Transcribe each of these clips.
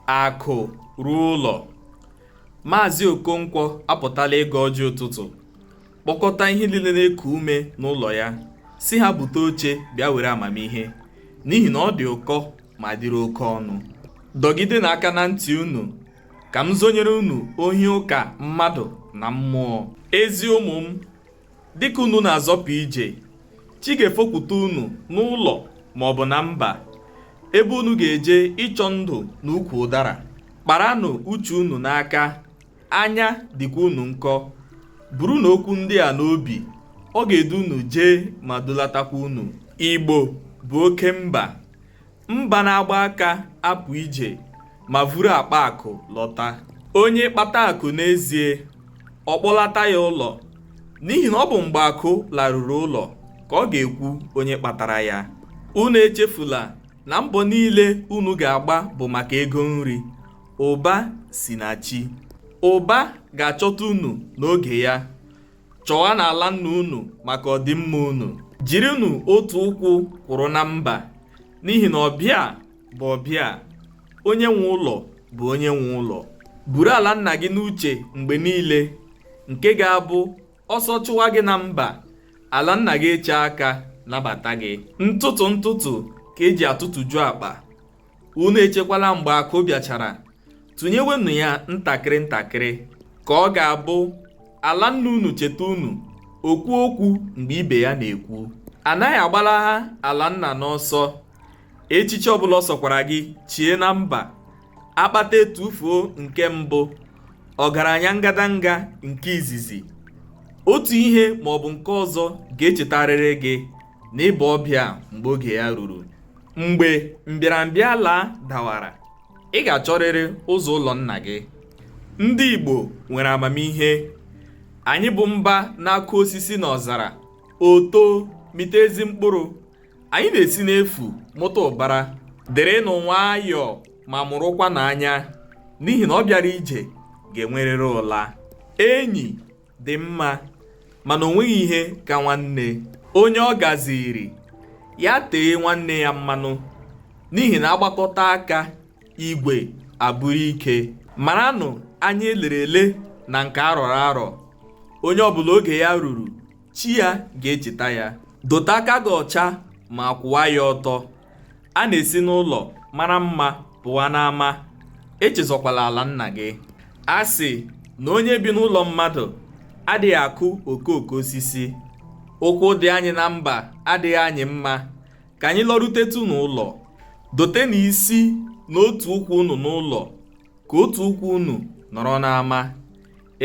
akụ ruo ụlọ maazị okonkwo apụtala ịgọ ọjị ụtụtụ kpọkọta ihe niile na-eku ume n'ụlọ ya sị ha bute oche bịa were amamihe n'ihi na ọ dị ụkọ ma dịrị oke ọnụ dọgidenụ aka na ntị unu ka m zonyere unu ohi ụka mmadụ na mmụọ ezi ụmụ m dịka unu na-azọpụ ije chi ga-efopụta unu n'ụlọ ma ọ bụ na mba ebe unu ga-eje ịchọ ndụ n'ukwu ụdara kparanụ uche unu n'aka anya dịkwa unu nkọ burunụ okwu ndị a n'obi ọ ga-edu unu jee ma dulatakwa unu igbo bụ oke mba Mba na-agba aka apụ ije ma vuru akpa akụ lọta. Onye kpata akụ n'ezie, ọ kpọlata ya ụlọ, n'ihi na ọ bụ mgbe akụ laruru ụlọ ka ọ ga-ekwu onye kpatara ya. Unu echefula na mbọ niile unu ga-agba bụ maka ego nri. Ụba si na chi. Ụba ga-achọta unu n'oge ya. chọwanụ ala nna unu maka ọdịmma unu jirinụ otu ụkwụ kwụrụ na mba n'ihi na ọbịa bụ ọbịa onye nwe ụlọ bụ onye nwe ụlọ buru ala nna gị n'uche mgbe niile nke ga-abụ ọsọ chụwa gị na mba ala nna gị eche aka nabata gị ntụtụ ntụtụ ka e ji atụtụju akpa unu echekwala mgbe akụ bịachara tụnyewenụ ya ntakịrị ntakịrị ka ọ ga-abụ ala nna unu cheta unu o kwuo okwu mgbe ibe ya na-ekwu a naghị agbalaha ala nna n'ọsọ echichi ọbụla ọ sọkwara gị chie na mba akpata etufuo nke mbụ ọgaranya ngadanga nke izizi otu ihe maọbụ nke ọzọ ga-echetarịrị gị na ị bụ ọbịa mgbe oge ya ruru mgbe mbịarambịa laa dawara ị ga-achọrịrị ụzọ ụlọ nna gị ndị Igbo nwere amamihe anyị bụ mba na-akụ osisi n'ọzara o too mịta ezi mkpụrụ anyị na-esi n'efu mụta ụbara dịrịnụ nwayọọ ma mụrụkwanụ anya n'ihi na ọ bịara ije ga-enwerịrị ụla enyi dị mma mana o nweghị ihe ka nwanne onye ọ gaziiri ya tee nwanne ya mmanụ n'ihi na a gbakọta aka igwe abụrụ ike maranụ anya e lere ele na nke a rọrọ arọ onye ọbụla oge ya ruru chi ya ga-echeta ya dote aka gị ọcha ma kwụwa ya ọtọ A na-esi n'ụlọ mara mma pụwa n'ama, echezọkwala ala nna gị. A sị na onye bi n'ụlọ mmadụ adịghị akụ okooko osisi, ụkwụ dị anyị na mba adịghị anyị mma, ka anyị lọrutetụ n'ụlọ. Dote na isi na otu ụkwụ unu n'ụlọ, ka otu ụkwụ unu nọrọ n'ama.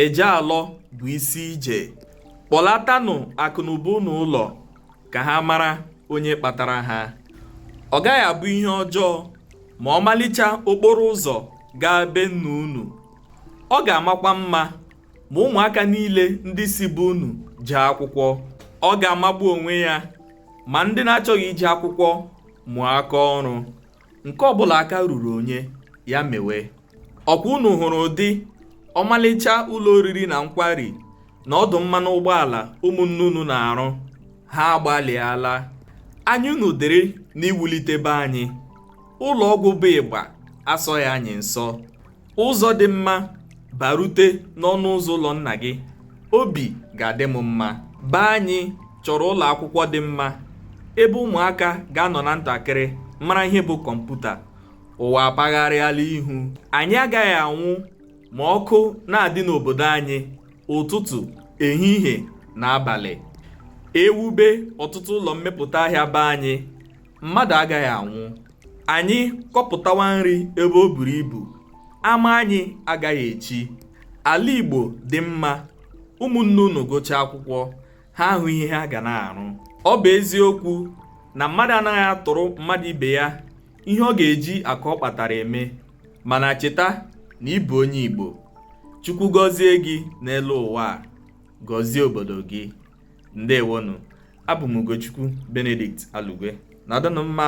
eje alọ bụ isi ije kpọlatanụ akụnụba unu ụlọ ka ha mara onye kpatara ha ọ gaghị abụ ihe ọjọọ ma ọmalịcha okporo ụzọ gaa be nna unu ọ ga-amakwa mma ma ụmụaka niile ndị si be unu jee akwụkwọ ọ ga-amagbu onwe ya ma ndị na-achọghị ije akwụkwọ mụọ aka ọrụ nke ọbụla aka ruru onye ya mewe ọkwa unu hụrụ ụdị ọmalịcha ụlọ oriri na nkwari na ọdụ mmanụ ụgbọala ụmụnne unu na-arụ ha agbalịala anya unu dịrị n'iwulite be anyị ụlọ ọgwụ bụ ịgba asọghị anyị nsọ ụzọ dị mma barute n'ọnụ ụzọ ụlọ nna gị obi ga-adị m mma be anyị chọrọ ụlọ akwụkwọ dị mma ebe ụmụaka ga-anọ na ntakịrị mara ihe bụ kọmputa ụwa apagharịala ihu anyị agaghị anwụ ma ọkụ na-adị n'obodo anyị ụtụtụ ehihie na abalị e wube ọtụtụ ụlọ mmepụta ahịa be anyị mmadụ agaghị anwụ anyị kọpụtawa nri ebe o buru ibu ama anyị agaghị echi ala igbo dị mma ụmụnne unu gụchaa akwụkwọ ha ahụ ihe ha ga na-arụ ọ bụ eziokwu na mmadụ anaghị atụrụ mmadụ ibe ya ihe ọ ga-eji akụ ọ kpatara eme mana cheta na ị bụ onye igbo chukwu gọzie gị n'elu ụwa a gọzie obodo gị ndewonu abụ m Ugochukwu Benedict Alugwe nọdụnụ mma